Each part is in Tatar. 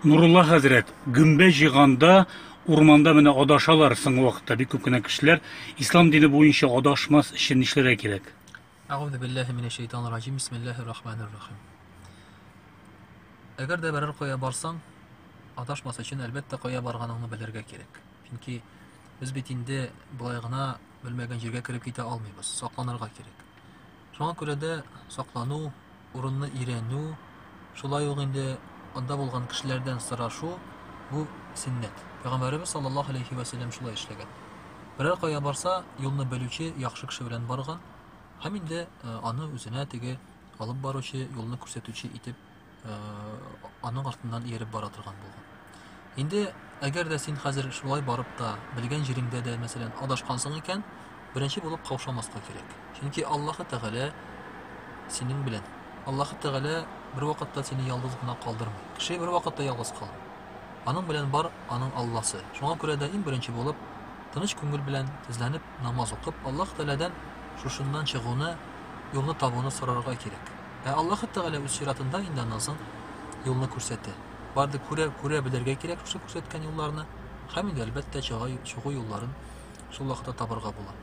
Нурулла хәзрәт, гөмбә җыйганда урманда менә адашалар соңгы вакытта бик күп кенә кешеләр. Ислам дине буенча адашмас өчен нишләргә кирәк? Әгъүзу биллаһи минәш шайтанир раҗим. Бисмиллаһир рахманир рахим. Әгәр дә берәр кая барсаң, адашмас өчен әлбәттә кая барганыңны белергә кирәк. Чөнки без бит инде былай гына белмәгән җиргә кереп китә алмыйбыз, сакланырга кирәк. Шуңа күрә дә саклану, урынны өйрәнү, шулай ук инде анда булган кешеләрдән сорашу бу сөннәт. Пәйгамбәребез саллаллаһу алейхи ва сәлләм шулай эшләгән. Берәр кая барса, юлны белүче яхшы кеше белән барган һәм инде аны үзенә теге алып баручы, юлны күрсәтүче итеп аның артыннан ияреп бара торган булган. Инде әгәр дә син хәзер шулай барып та, белгән җиреңдә дә, мәсәлән, адашкансың икән, беренче булып каушамаска кирәк. Чөнки Аллаһы Тәгалә синең белән. Аллаһы Тәгалә бер вакытта сине ялгыз гына калдырмый. Кеше бер вакытта ялгыз калмый. Аның белән бар аның Алласы. Шуңа күрә дә иң беренче булып тыныч күңел белән тезләнеп намаз укып, Аллаһ Тәгаләдән шушыннан чыгуны, юлны табуны сорарга кирәк. Ә Аллаһы Тәгалә үз чиратында инде аннан соң юлны күрсәтә. Барды күрә, күрә белергә кирәк шушы күрсәткән юлларны, һәм инде әлбәттә чага, чыгу юлларын шул вакытта табырга була.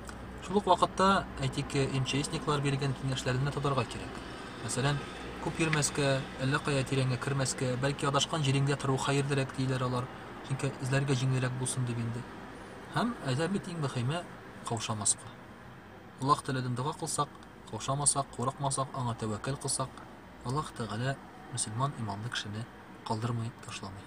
Шул ук вакытта, әйтик, МЧСниклар биргән киңәшләрне тотарга кирәк. Мәсәлән, күп йөрмәскә, әллә кая тирәнгә кермәскә, бәлки адашкан җириңдә тору хәерлерәк диеләр алар, чөнки эзләргә җиңелрәк булсын дип инде. Һәм әйтәм бит иң мөхиме каушамаска. Аллаһ Тәгаләдән дога кылсак, Каушамасак, курыкмасак, Аңа тәвәккәл кылсак, Аллаһ Тәгалә мөселман иманлы кешене калдырмый, ташламый.